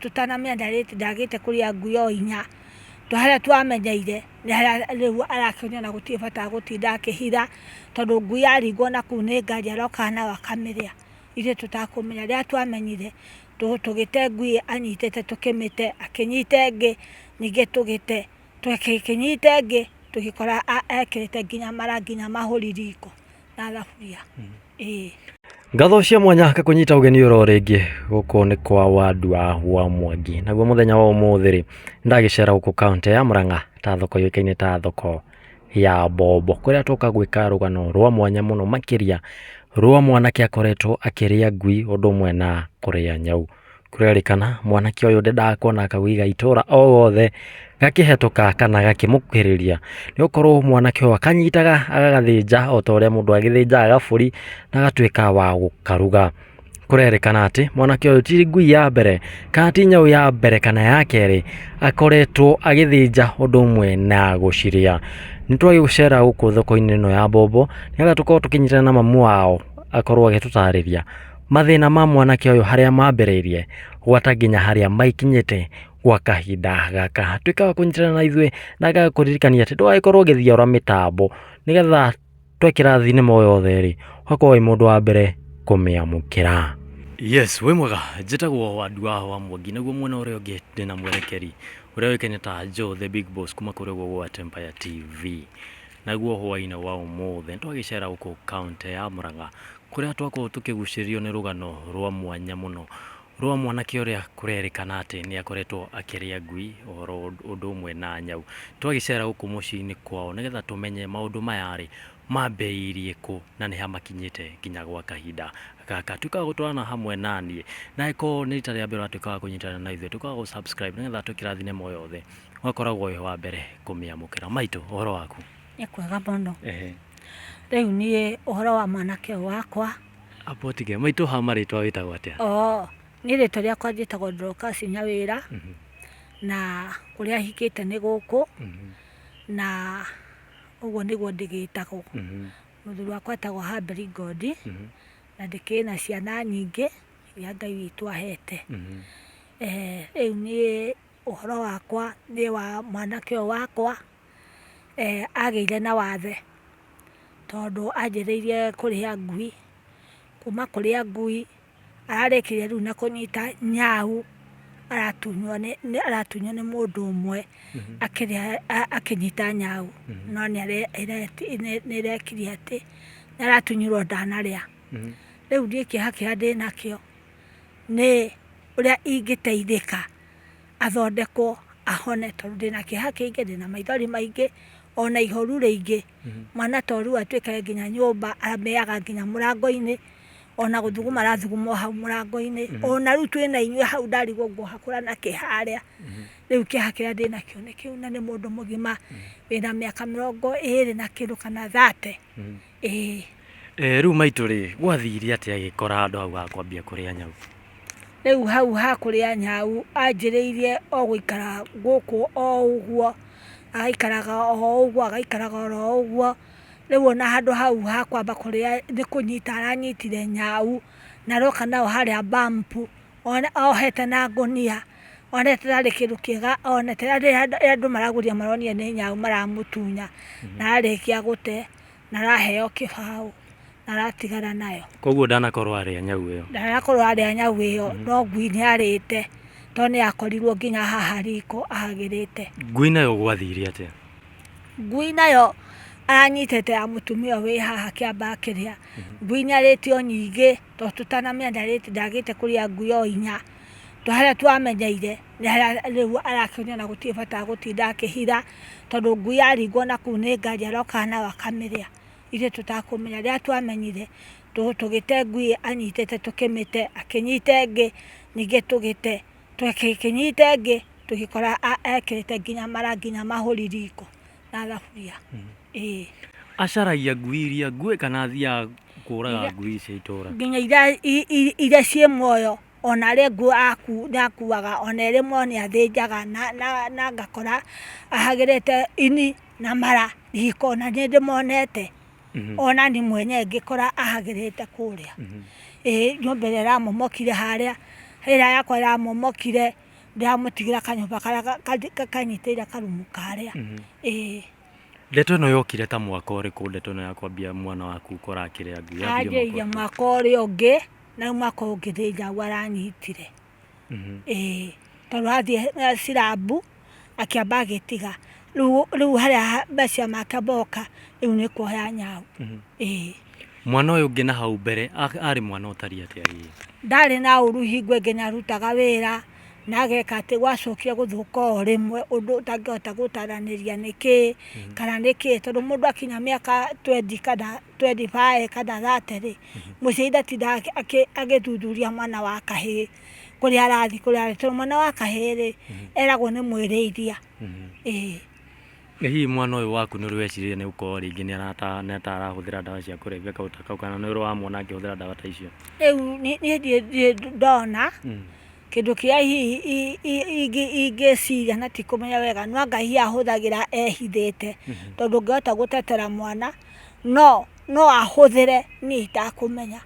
tũtanamĩenda rĩti ndagĩte kũrĩa nguyo inya tondũ harĩa twamenyeire nĩ harĩa rĩu arakĩonio na gũtirĩ bata wa gũtinda akĩhitha tondũ ngui yaringwo na kũu nĩ ngari aroka nayo akamĩrĩa ithuĩ tũtakũmenya. Rĩrĩa twamenyire tũgĩte ngui anyitĩte tũkĩmĩte, akĩnyita ĩngĩ ningĩ tũgĩte, tũkĩnyita ĩngĩ tũgĩkora ekĩrĩte nginya mara nginya mahũri riko. na thaburia ĩĩ Ngatho cia mwanya kakũnyita ũgeni ũro rĩngĩ gũkũ nĩ kwa wandu wa wa Mwangi naguo mũthenya wa ũmũthĩ rĩ ndagĩcera gũkũ kaũntĩ ya Murang'a ta thoko yũĩkaine ta thoko ya Mbombo kũrĩa tũka gwĩka rũgano rwa mwanya mũno makĩria rwa mwanake akoretwo akĩrĩa ngui ũndũ ũmwe na kũrĩa nyau. Kũrerĩkana mwanake ũyũ ndendaga kuona kaũiga itũra o gothe gakĩhetũka kana gakĩmũkuhĩrĩria, nĩ gũkorwo mwanake ũyũ akanyitaga agagathĩnja o ta ũrĩa mũndũ athĩnjaga gabũri na agatuĩka wa gũkaruga. Kũrerĩkana atĩ mwanake ũyũ ti ngui ya mbere kana ti nyau ya mbere kana ya kerĩ akoretwo agĩthĩnja ũndũ ũmwe na gũcirĩa. Nĩ twagũcera gũkũ thoko-inĩ ĩno ya Mbombo nĩgetha tũkorwo tũkĩnyitana na mamu wao akorwo agĩtũtarĩria. Mathĩna ma mwanake ũyũ harĩa mambĩrĩirie gwata nginya harĩa maikinyĩte gwa kahinda gaka. Tuĩka wa kũnyitana na ithuĩ na agakũririkania atĩ ndũgagĩkorwo ũgĩthiora mĩtambo nĩgetha twekĩra thinema o yothe rĩ, ũgakorwo wĩ mũndũ wa mbere kũmĩamũkĩra. Yes, wĩ mwega, njĩtagwo Wandua wa Mwangi, naguo mwena ũrĩa ũngĩ ndĩ na mwerekeri ũrĩa ũĩkaine ta Joe the Big Boss kuma kũrĩa ũguo gwa Tempaya TV. Naguo hwaĩ-inĩ wa ũmũthĩ nĩ twagĩcera gũkũ kaũntĩ ya Mũrang'a kũrĩa twakorwo tũkĩgucĩrĩrio nĩ rũgano rwa mwanya mũno rwa mwanake ũrĩa kũrerĩkana atĩ nĩ akoretwo akĩrĩa ngui oro ũndũ ũmwe na nyau. Twagĩcera gũkũ mũciĩ-inĩ kwao nĩgetha tũmenye maũndũ maya rĩ mambĩrĩirie kũ na nĩha makinyĩte nginya gwa kahinda gaka. Tuĩka wa gũtwarana hamwe naniĩ na angĩkorwo nĩ rita rĩa mbere ũratuĩka wa kũnyitanĩra na ithuĩ, tuĩka wa gũ subscribe nĩgetha tũkĩrathime moyothe. we koragwo wĩ wa mbere kũmĩamũkĩra maitũ ũhoro waku nĩ kwega mũno ehe rĩu niĩ ũhoro wa mwanake ũyũ wakwa apotige maitũ ha marĩtwa wĩtagwo atĩa oo niĩ rĩtwa rĩakwa njĩtagwo ndorokasi nyawĩra Mhm, na kũrĩa hikĩte nĩ gũkũ mhm, na ũguo nĩguo ndĩgĩtagwo mhm, mũthuri wakwa etagwo hamberi ngondi mhm, na ndĩkĩrĩ na ciana nyingĩ iria ngai witũ ahete mhm. Eh, rĩu niĩ Ũhoro wakwa nĩ wa mwanake ũyũ wakwa, agĩire na wathe, tondũ anjĩrĩirie kũrĩa ngui, kuma kũrĩa ngui, ararĩkirie rĩu na kũnyita nyau, aratunywo nĩ aratunywo nĩ mũndũ ũmwe, akĩrĩa akĩnyita nyau, no nĩare nĩarekirie atĩ, nĩaratunyirwo ndanarĩa, rĩu niĩ kĩeha kĩrĩa ndĩnakĩo, nĩ ũrĩa ingĩteithĩka. athondekwo ahone tondũ ndĩna kĩeha kĩingĩ ndĩna maithori maingĩ ona ihoru rĩingĩ mhm. mwana ta ũrĩu atuĩke nginya nyũmba aramĩaga nginya mũrango-inĩ ona gũthuguma arathuguma hau mũrango-inĩ mhm. ona rĩu twĩ na inyuĩ hau ndarigwo nguohakũra na kĩ harĩa mhm. rĩu kĩeha kĩrĩa ndĩ nakĩo nĩ kĩu na nĩ mũndũ mũgima wĩna mĩaka mĩrongo ĩrĩ na kĩndũ kana thate Ĩĩ. Ĩĩ rĩu maitũ rĩ, gwathire atĩa agĩkora handũ hau ha kwambia kũrĩa nyau? Rĩu hau ha kũrĩa nyau anjĩrĩirie o gũikara gũkũ o ũguo, agaikaraga o ũguo, agaikaraga oro ũguo, rĩu ona handũ hau ha kwamba kũrĩa nĩ kũnyita aranyitire nyau, na aroka nayo harĩa bump ohete na ngũnia, one hatarĩ kĩndũ kĩega one, ta rĩrĩa andũ maragũria maronia nĩ nyau maramũtunya, na arĩkia gũte. na araheo kĩbaũ na aratigana nayo. Koguo ndanakorwo arĩa nyau ĩyo. Ndanakorwo arĩa nyau ĩyo mm. no ngui nĩ arĩte to nĩ akorirwo nginya haha riko ahagĩrĩte. Ngui nayo gwathire atĩa? Ngui nayo anyitĩte ya mũtumia wĩ haha kĩamba kĩrĩa mhm. ngui nĩ arĩte o nyingĩ to tũtanamenya ndarĩte ndagĩte kũrĩa ngui o inya to harĩa twamenyeire rĩu arakĩonio ona gũtirĩ bata wa gũtinda akĩhitha, tondũ ngui yaringwo na kũu nĩ ngari arokaga nayo akamĩrĩa, ithuĩ tũtakũmenya. Rĩrĩa twamenyire, tũgĩte ngui ĩyo anyitĩte tũkĩmĩte, akĩnyita ĩngĩ, ningĩ tũgĩte, akĩnyita ĩngĩ, tũgĩkora ekĩrĩte nginya marangi na mahũri riko na thaburia. Ĩĩ. Acaragia ngui iria nguĩ kana athiaga kũraga ngui cia itũra? Nginya iria ciĩ muoyo. ona arĩ ngũo akuaga ona ĩrĩ mwe nĩ athĩnjaga na ngakora ahagĩrĩte ini na mara riko na nĩ ndĩmonete ona niĩ mwene ngĩkora ahagĩrĩte kũrĩa. Ĩĩ nyũmba ĩrĩa ĩramomokire harĩa, ĩrĩa yakwa ĩramomokire ndĩramũtigĩra kanyũmba karĩa kanyitĩrĩire karumu karĩa. Ĩĩ. Ndeto ĩno yokire ta mwaka ũrĩkũ ndeto ĩno ya kwambia mwana waku gũkora akĩrĩa ngui? Yanjĩrĩirie mwaka ũrĩa ũngĩ. Nauma kũu ngĩthĩnja ũguo aranyitire, ĩĩ. Tondũ athiĩ cirambu, akĩamba agĩtiga. Rĩu rĩu harĩa ha maciaro make moka, rĩu nĩ kuoya nyau. Ĩĩ. Mwana ũyũ ũngĩ na hau mbere a- arĩ mwana ũtariĩ atĩa hihi? Ndarĩ na ũru hingo ĩngĩ nĩ arutaga wĩra, na ageka atĩ gwacokire gũthũka o rĩmwe ũndũ ũtangĩhota gũtaranĩria nĩkĩĩ, kana nĩkĩĩ. Tondũ mũndũ akinya mĩaka twendi kana 25 kana 30 rĩ, mũciari ndatindaga akĩ- agĩthuthuria mwana wa kahĩĩ kũrĩa arathiĩ kũrĩa arathiĩ tondũ mwana wa kahĩĩ rĩ eragwo nĩ mwĩrĩithia ĩĩ Ĩ hihi mwana ũyũ waku nĩ ũrĩ wecirĩria nĩ gũkorwo rĩngĩ nĩ arata nĩ ata arahũthĩra ndawa cia kũrebia kaũndũ ta kau kana nĩ ũrĩ wamwona akĩhũthĩra ndawa ta icio? rĩu niĩ niĩ ndirĩ- ndirĩ ndona Kĩndũ kĩrĩa hihi ingĩciria na ti kũmenya wega nĩ anga hihi ahũthagĩra ehithĩte, tondũ ndũngĩhota gũtetera mwana, no no ahũthĩre niĩ itakũmenya.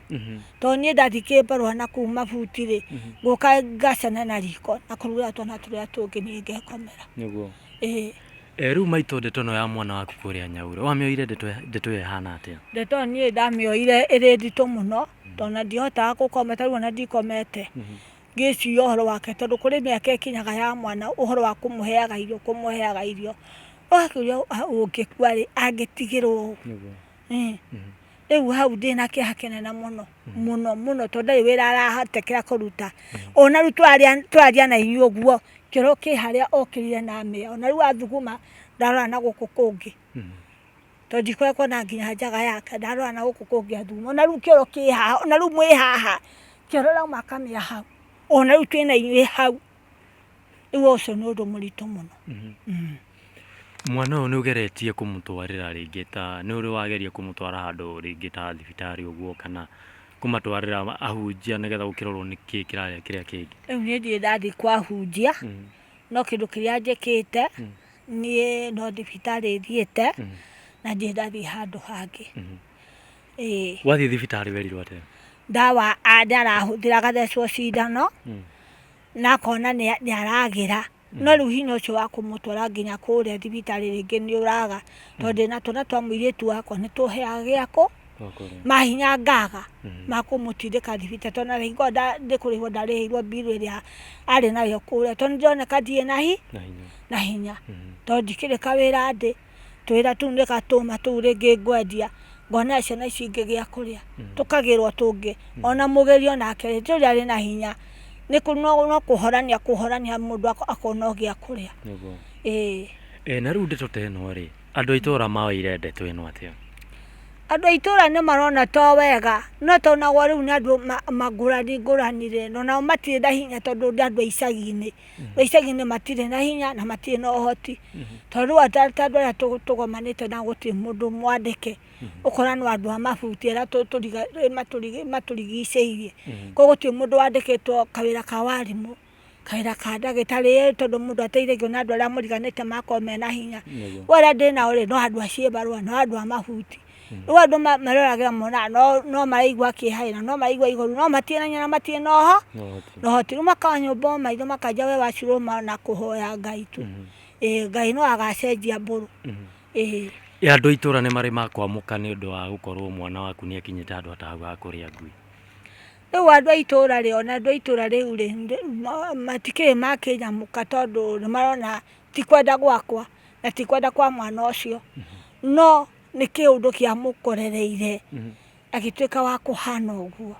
Tondũ niĩ ndathiĩ kĩbarũa na kũu mabuti rĩ, ngũka ngacemania na riko na kũrugĩra twana tũrĩa tũngĩ niĩ ngekomera. Nĩguo. Ĩĩ. Rĩu maitũ ndeto ĩno ya mwana waku kũrĩa Nyaurũ, wamĩoire ndeto ĩyo ĩhana atĩa? Ndeto ĩyo niĩ ndamĩoire ĩrĩ nditũ mũno, tondũ na ndihotaga gũkoma tarĩu ona ndikomete ngĩciria ũhoro wake tondũ kũrĩ mĩaka ĩkinyaga ya mwana ũhoro wa kũmũheaga irio kũmũheaga irio ũgakĩũria ũngĩkua rĩ angĩtigĩrwo ũũ rĩu hau ndĩna kĩeha kĩnene mũno mũno mũno tondũ ndarĩ wĩra arahotekera kũruta ona rĩu twaria na inyuĩ ũguo kĩoro kĩ harĩa okĩrire na amĩa ona rĩu athuguma ndarora na gũkũ kũngĩ To ndikoragwo na nginya njaga yake ndarora na gũkũ kũngĩ athuri ona rĩu kĩoro kĩ haha ona rĩu mwĩ haha kĩoro ũrauma akamĩa hau ona rĩu twĩna inyuĩ hau rĩu ũcio nĩ ũndũ mũritũ mũno mwana ũyũ nĩ ũgeretie kũmũtwarĩra rĩngĩ ta nĩ ũrĩ wageria kũmũtwara handũ rĩngĩ ta thibitarĩ ũguo kana kũmatwarĩra ahunjia nĩgetha gũkĩrorwo nĩkĩ kĩrarĩa kĩrĩa kĩngĩ rĩu niĩ ndirĩ ndathiĩ kwa hunjia No kĩndũ kĩrĩa njĩkĩte, niĩ no thibitarĩ thiĩte, na ndirĩ ndathiĩ handũ hangĩ. Ĩĩ. Wathiĩ thibitarĩ werirwo atĩa? Ndawa a- nĩ arahũthĩra agathecwo cindano, na akona nĩ nĩ aragĩra. No rĩu hinya ũcio wa kũmũtwara nginya kũrĩa thibitarĩ rĩngĩ nĩ ũraga, tondũ ndĩna twana twa mũirĩtu wakwa nĩ tũhĩaga gĩakũ. mahinya ngaga makũmũtindĩka thibitari tondũ narĩ ngorwo ndĩ kũrĩhwo ndarĩhĩirwo mbirũ ĩrĩa arĩ nayo kũrĩa tondũ nĩndĩroneka ndirĩ na hinya tondũ ndikĩrĩ kawĩra ndĩ, tũwĩra tũu nĩgatũma tũu rĩngĩ ngwendia ngona ciana ici ingĩ gĩa kũrĩa tũkagĩrwo tũngĩ ona mũgĩri onake rĩ ndũrĩ arĩ na hinya no kũhorania akũhorania mũndũ akona o gĩa kũrĩa. Andũ a itũũra maoire ndeto ĩno atĩa? Andũ a itũũra nĩ marona to wega, no tonagwo rĩu nĩ andũ ngũrani ngũrani rĩ, na onao matirĩ na hinya tondũ nĩ andũ a icagi-inĩ. Andũ a icagi-inĩ matirĩ na hinya na matirĩ na ũhoti. To rĩu ta andũ arĩa tũgomanĩte nao gũtirĩ mũndũ mwandĩke, ũkona no andũ a mabuti arĩa matũrigicĩirie. Kũguo gũtirĩ mũndũ wandĩkĩtwo kawĩra ka warimũ. Kawĩra ka ndagĩtarĩ ĩĩ tondũ mũndũ ateithagio nĩ andũ arĩa mũriganĩte makoragwo mena hinya. Nĩguo. Rĩu arĩa ndĩ nao rĩ, no andũ a ciĩbarũa, no andũ a mabuti. Rĩu andũ ma- maroragĩra monaga no- no maraigua kĩeha ĩ, na no maraigua ihoru, no matirĩ na hinya na matirĩ na ũho- No ũhoti. na ũhoti. Rĩu makara nyũmba o maitho makanjia we wacurũma na kũhoya Ngai tu. Ĩĩ Ngai no agacenjia mbũrũ. Ĩĩ. Ĩ andũ a itũra nĩ marĩ makwamũka nĩ ũndũ wa gũkorwo mwana waku nĩ akinyĩte handũ atahau ha kũrĩa ngui? Rĩu andũ a itũra rĩ ona andũ a itũra rĩu rĩ matikĩrĩ makĩnyamũka tondũ nĩmarona ti kwenda gwakwa na ti kwenda kwa mwana ũcio no nĩ kĩũndũ kĩamũkorereire agĩtuĩka wa kũhana ũguo.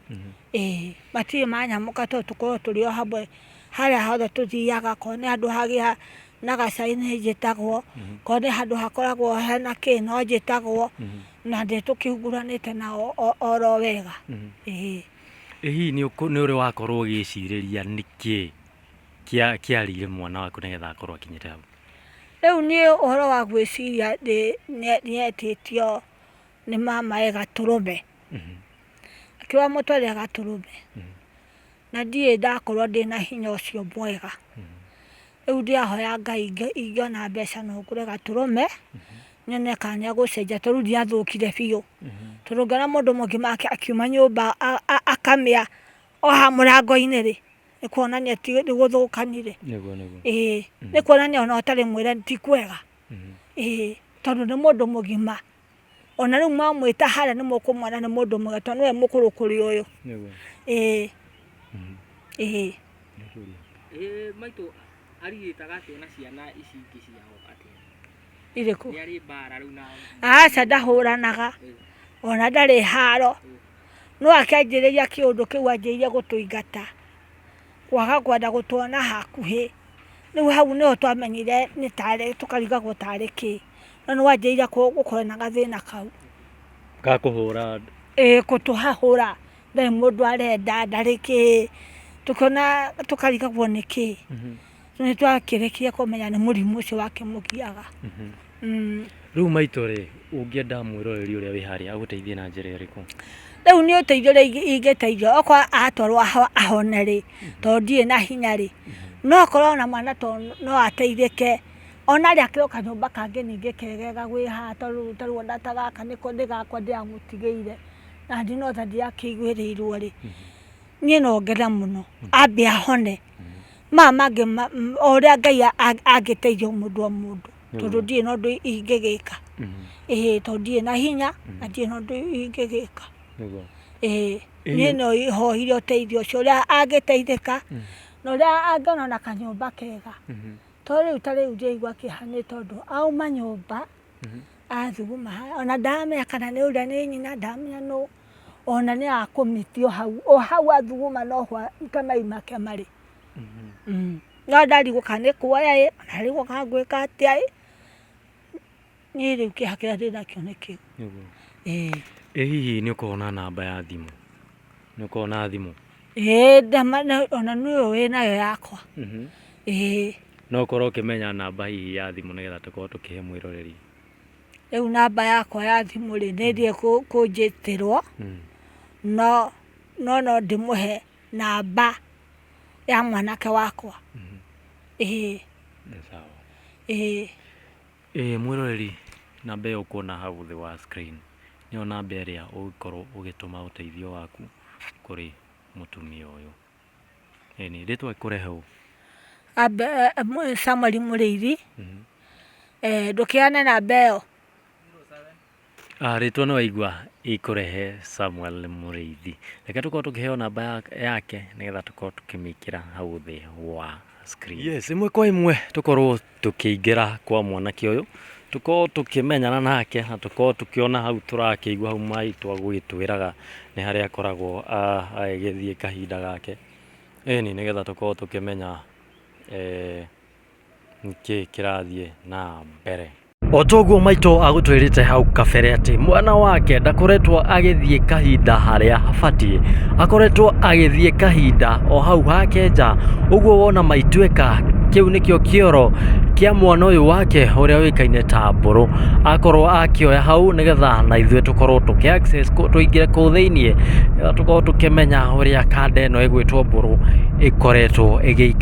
Ĩĩ matirĩ manyamũka tondũ tũkoragwo tũrĩ o hamwe harĩa hothe tũthiaga akorwo nĩ handũ hagĩa na gacaũ nĩnjĩtagwo, akorwo nĩ handũ hakoragwo hena kĩ no njĩtagwo, Na ndĩ tũkĩhungũranĩte nao oro wega. Mhm. Ĩĩ. Ĩ hihi nĩ ũrĩ wakorwo ũgĩcirĩria nĩkĩ kĩarĩire mwana waku nĩgetha akorwo akinyĩte hau? Rĩu niĩ ũhoro wa gwĩciria nĩetĩtio nĩ mamae Gatũrũme. Mhm. Akĩrwo amũtwarĩre Gatũrũme. Mhm. Na ndirĩ ndakorwo ndĩna hinya ũcio mwega. Rĩu ndĩrahoya Ngai ingĩona mbeca no ngũre gatũrũme, nyone kana nĩ egũcenjia tondũ rĩu ndirathũkire biũ. Tondũ ũngĩona mũndũ mũgima nake akiuma nyũmba akamĩa o haha mũrango-inĩ rĩ, nĩ kuonania ti nĩ gũthũkanire. Ĩĩ, nĩ kuonania ona ũtarĩ mwĩre ti kwega. Ĩĩ, tondũ nĩ mũndũ mũgima. ona rĩu mwamwĩta harĩa nĩ mũkũmwona nĩ mũndũ mwega tondũ nĩwe mũkũrũ kũrĩ ũyũ Nĩguo. ĩĩ Mhm. ĩĩ Nĩ kũria. Ĩĩ maitũ arigĩtaga atĩa na ciana ici ingĩ ciao atĩa? irĩkũ Nĩ arĩ mbara rĩu na aca ndahũranaga ona ndarĩ haro no akĩanjĩrĩria kĩũndũ kĩu anjĩrĩirie gũtũingata kwaga kwenda gũtuona hakuhĩ rĩu hau nĩho twamenyire nĩ tarĩ tũkarigagwo tarĩ kĩ na nĩ wanjĩrĩire gũkorwo na gathĩna kau. Ga kũhũra andũ? Ĩĩ gũtũhahũra, ndarĩ mũndũ arenda, ndarĩ kĩ, tũkĩona, tũkarigagwo nĩ kĩ. Rĩu nĩ twakĩrĩkire kũmenya nĩ mũrimũ ũcio wakĩmũgiaga. Rĩu maitũ rĩ, ũngĩenda mwĩroreri ũrĩa wĩ harĩa agũteithie na njĩra ĩrĩkũ? Rĩu niĩ ũteithio ũrĩa ingĩteithio okorwo atwarwo ahone rĩ, tondũ ndirĩ na hinya rĩ, no akorwo ona mwana ta ũyũ no ateithĩke. Ona arĩa akĩrĩ o kanyũmba kangĩ ningĩ kegega gwĩ haha tondũ rĩu ta rĩu ona ta gaka nĩko nĩ gakwa ndĩramũtigĩire, na niĩ no ta ndirakĩiguĩrĩirwo rĩ, niĩ no ngene mũno ambe ahone. Maya mangĩ ma o ũrĩa Ngai angĩteithia o mũndũ o mũndũ tondũ ndirĩ na ũndũ ingĩgĩka. Ĩhĩ tondũ ndirĩ na hinya na ndirĩ na ũndũ ingĩgĩka. Ĩhĩ niĩ no hoire ũteithio ũcio ũrĩa angĩteithĩka na ũrĩa angĩona ona kanyũmba kega. To rĩu ta rĩu njĩigua kĩeha nĩ tondũ auma nyũmba athuguma haha ona ndamenya kana nĩ ũrĩa nĩ nyina ndamenya nũ ona nĩ akũmiti o hau o hau athuguma no ho ta mai make marĩ Mm. no ndarigwo kana nĩ kuoya ĩ ona ndarigwo kana ngwĩka atĩa ĩ Niĩ rĩu kĩeha kĩrĩa ndĩ nakĩo nĩ kĩu. Nĩguo. Ĩĩ. Ĩ hihi nĩ ũkoragwo na namba ya thimũ? Nĩ ũkoragwo na thimũ? Ĩĩ ndama na- ona nĩ ũyũ wĩ nayo yakwa. Mhm. Ĩĩ. No ũkorwo ũkĩmenya namba hihi ya thimũ nĩgetha tũkorwo tũkĩhe mwĩroreri. Rĩu namba yakwa ya thimũ rĩ, nĩ thiĩ kũ- kũnjĩtĩrwo, Mm. no no no ndĩmũhe namba ya mwanake wakwa. Ĩĩ. Nĩ sawa. Ĩĩ. Ĩĩ mwĩroreri namba ĩyo ũkuona hau thĩ wa screen nĩyo namba ĩrĩa ũngĩkorwo ũgĩtũma ũteithio waku kũrĩ mũtumia ũyũ. Ĩni, rĩtwa rĩkũrehe ũũ? Samuel Mũrĩithi, ndũkĩheane namba ĩyo. Ah, rĩtwa nĩ waigua ikũrehe Samuel Mũrĩithi. Reke tũkorwo tũkĩheo namba ya- yake nĩgetha tũkorwo tũkĩmĩkĩra hau thĩ wa screen. Yes, ĩmwe kwa ĩmwe tũkorwo tũkĩingĩra kwa mwanake ũyũ tũkorwo tũkĩmenyana nake na tũkorwo tũkĩona hau tũrakĩigua hau maitũ agũgĩtwĩraga nĩ harĩa akoragwo a- agĩgĩthiĩ kahinda gake ĩni nĩgetha tũkorwo tũkĩmenya eh, nĩkĩĩ kĩrathiĩ na mbere. O ta ũguo maitũ agũtwĩrĩte hau kabere atĩ mwana wake ndakoretwo agĩthiĩ kahinda harĩa abatiĩ akoretwo agĩthiĩ kahinda o hau hake nja ũguo wona maituĩka kĩu nĩkĩo kĩoro kĩa mwana ũyũ wake ũrĩa ũĩkaine ta mbũrũ akorwo akĩoya hau nĩgetha na ithuĩ tũkorwo tũkĩ access kũ- tũingĩre kũu thĩinĩ tũkorwo tũkĩmenya ũrĩa kanda ĩno ĩgwĩtwo mbũrũ ĩkoretwo ĩgĩikara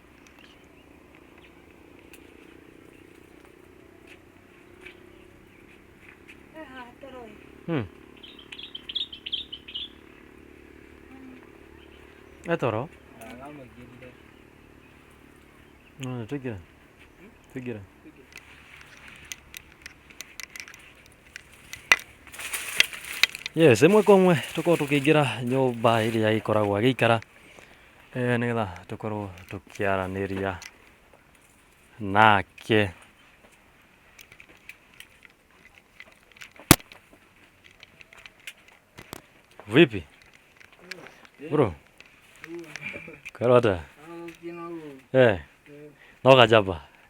Hmm. Eh toro. No, take it. Take it. Yes, ĩmwe kwa ĩmwe tũkorwo tũkĩingĩra nyũmba ĩrĩa ĩkoragwo agĩikara eh, nĩgetha tũkorwo tũkĩaranĩria nake vipi bro karota eh no kajaba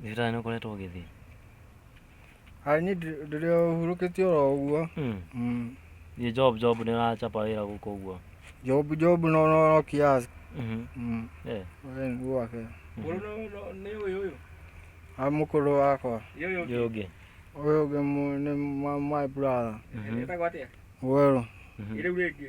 Thibitarĩ nĩ ũkoretwo ũgĩthiĩ? Aai niĩ ndĩrĩ o hurũkĩtie oro ũguo. Githĩ job job nĩ ũracaba wĩra gũkũ ũguo? Job job no kiasi. Mũkũrũ wakwa. Ũyũ ũngĩ? Ũyũ ũngĩ nĩ my brother. Wetagwo atĩa? Werũ. Rĩu rĩngĩ?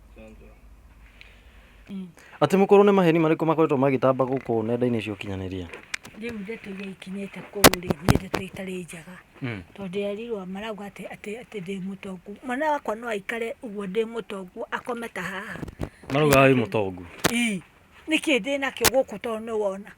Atĩ mũkorwo nĩ maheni marĩkũ makoretwo magĩtamba gũkũ nenda-inĩ cia ũkinyanĩria? Rĩu ndeto iria ikinyĩte kũu rĩ, nĩ ndeto itarĩ njega. Tondũ ndĩrerirwo marauga atĩ atĩ atĩ ndĩ mũtongu. Mwana wakwa no aikare ũguo ndĩ mũtongu akome ta haha. Marauga wĩ mũtongu? Ĩĩ. Nĩkĩ ndĩnakĩo gũkũ tondũ nĩ wona?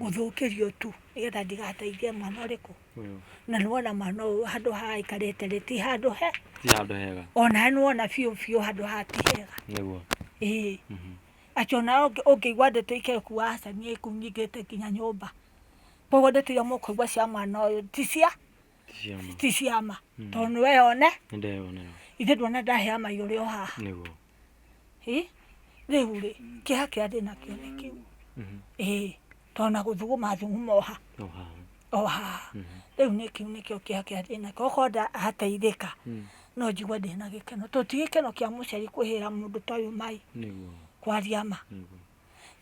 gũthũkĩrio tu nĩgetha ndigateithie mwana ũrĩkũ Ũyũ. na nĩwona mwana ũyũ handũ haha aikarĩte rĩ ti handũ he Ti handũ hega. onawe nĩwona biũ biũ handũ haha ti hega Nĩguo. ĩĩ Mhm. acio nao ũngĩ- ũngĩigua ndeto ikekuga aca niĩ ikunyingĩte nginya nyũmba koguo ndeto iria mũkũigua cia mwana ũyũ ti cia Ti cia ma. ti ciama tondũ nĩwe one Nĩndeyonera. ithe ndwona ndahea maiyũrĩ o haha Nĩguo. rĩu rĩ kĩha kĩrĩa ndĩna kĩo nĩ kĩu tona gũthuguma thuguma oha oha rĩu nĩ kĩu nĩkĩo kĩha kĩrĩa ndĩna kĩo okorwo ndateithĩka mm. no njigua ndĩna gĩkeno to ti gĩkeno kĩa mũciari kwĩhĩra mũndũ ta ũyũ mai kwaria ma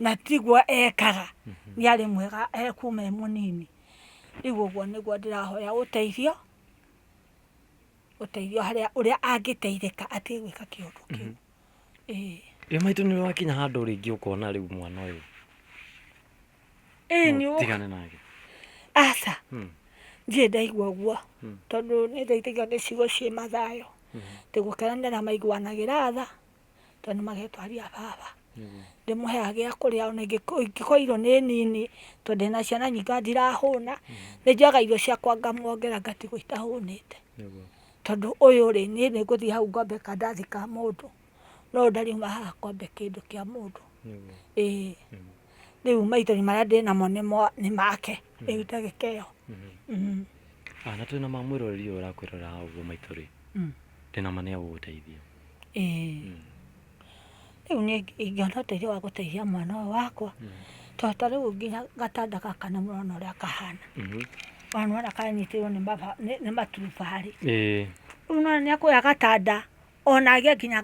na tiguo ekaga mm-hmm. nĩ arĩ mwega ekuma e mũnini rĩu ũguo nĩguo ndĩrahoya ũteithio ũteithio harĩa ũrĩa angĩteithĩka atige gwĩka kĩũndũ kĩu mhm. ĩĩ ĩ maitũ nĩ wakinya handũ rĩngĩ ũkona rĩu mwana ũyũ ĩĩ nĩ tigane nake aca hmm. ndirĩ ndaigua ũguo hmm. tondũ nĩ ndaithĩgio nĩ ciugo ciĩ mathayo hmm. tĩ gũkena nĩ aramaiguanagĩra tha tondũ magetwarĩra baba ndĩmũheaga gĩa kũrĩa ona ingĩkorwo irio nĩ nini tondũ ndĩna ciana nyingĩ ona ndirahũna nĩ njoyaga irio ciakwa ngamwongera ngatigwo itahũnĩte tondũ ũyũ rĩ niĩ nĩ ngũthiĩ hau ngombe kadathi ka mũndũ no ũyũ ndariuma haha ngombe kĩndũ kĩa mũndũ ĩĩ rĩu maitho marĩa ndĩnamo nĩ make rĩu ndagĩka ĩyo. Na twĩna ma mwĩroreri ũyũ ũrakwĩrorera haha ũguo maitũ rĩ, ndĩna ma nĩ egũgũteithia. Rĩu niĩ ingĩona ũteithio wa gũteithia mwana ũyũ wakwa, tondũ ta rĩu nginya gatanda gaka nĩ mũrona ũrĩa kahana, ona nĩ wona kanyitĩrĩirwo nĩ maturubarĩ. Rĩu nĩ wona nĩ akuoya gatanda ona agĩe nginya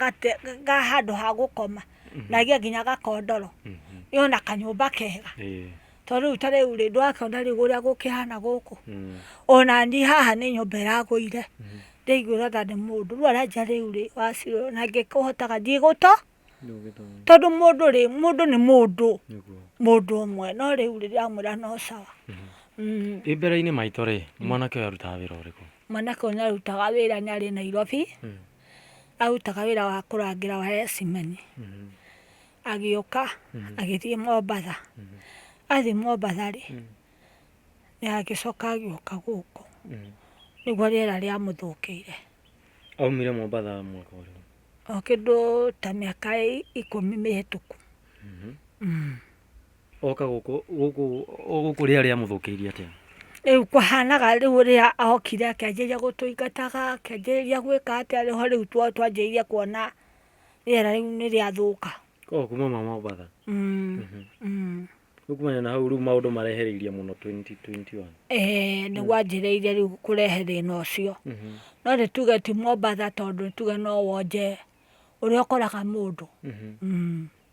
ga handũ ha gũkoma, na agĩe nginya gakondoro, ĩĩ ona kanyũmba kega. Tondũ rĩu ta rĩu rĩ, ndũrakĩona rĩu ũrĩa gũkĩhana gũkũ? Ona niĩ haha nĩ nyũmba ĩragũire, ndĩraiguĩra tha nĩ mũndũ. Rĩu aranjia rĩu rĩ, wacirora na ngĩkĩhotaga ndigũtũ, tondũ mũndũ rĩ, mũndũ nĩ mũndũ, mũndũ ũmwe. No rĩu rĩ, ndĩramwĩra no sawa. Wĩ mbere-inĩ maitũ rĩ, mwanake ũyũ arutaga wĩra ũrĩkũ? Mwanake ũyũ nĩ arutaga wĩra nĩ arĩ Nairobi, arutaga wĩra wa kũrangĩra waya ya cement. Agĩũka agĩthiĩ Mombatha, athiĩ Mombatha rĩ, nĩ agĩcoka agĩũka gũkũ, nĩguo rĩera rĩamũthũkĩire. Aumire Mombatha mwaka ũrĩkũ? O kĩndũ ta mĩaka ikũmi mĩhĩtũku. Oka gũkũ gũkũ gũkũ rĩera rĩamũthũkĩirie atĩa? Rĩu kũhanaga rĩu rĩrĩa okire akĩanjĩrĩria gũtũingataga, akĩanjĩrĩria gwĩka atĩa, nĩho rĩu twanjĩrĩirie kuona. rĩera rĩu nĩ rĩathũka o kuma ma Mombatha Mm, mm. rĩu kumania na hau rĩu maũndũ marehereirie mũno 2021 Eh, nĩ gwanjĩrĩirie rĩu kũrehe thĩna ũcio Mhm, no nĩ tuge ti mombatha tondũ nĩ tuge no wonje ũrĩa ũkoraga mũndũ mhm. Mm.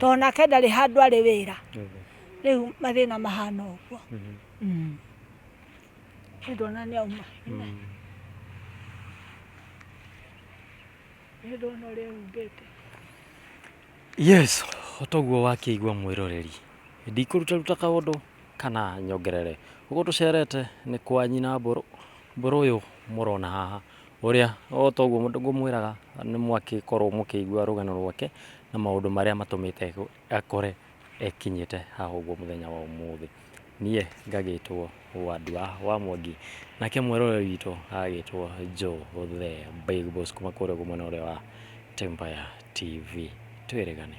tondũ nake ndarĩ handũ arĩ wĩra rĩu mathĩna mahana ũguo Mm. Rĩu ndona nĩ auma Rĩu ndona ũrĩa humbĩte yes otoguo wakĩigua mwĩroreri ndikũrutaruta kaũndũ kana nyongerere ũguo tũcerete nĩ kwa nyina mbũrũ mbũrũ ũyũ mũrona haha Ũrĩa o ta ũguo ngũmwĩraga, nĩ mwagĩkorũo mũkĩigua rũgano rwake na maũndũ marĩa matũmĩte akore ekinyĩte haha ũguo mũthenya wa ũmũthĩ. Niĩ ngagĩtwo Wandua wa Mwangi, nake mweroreri witũ agagĩtwo Joe the Big Boss kuma kũrĩa ũguo mwena ũrĩa wa Tympire TV. Twĩrĩgane.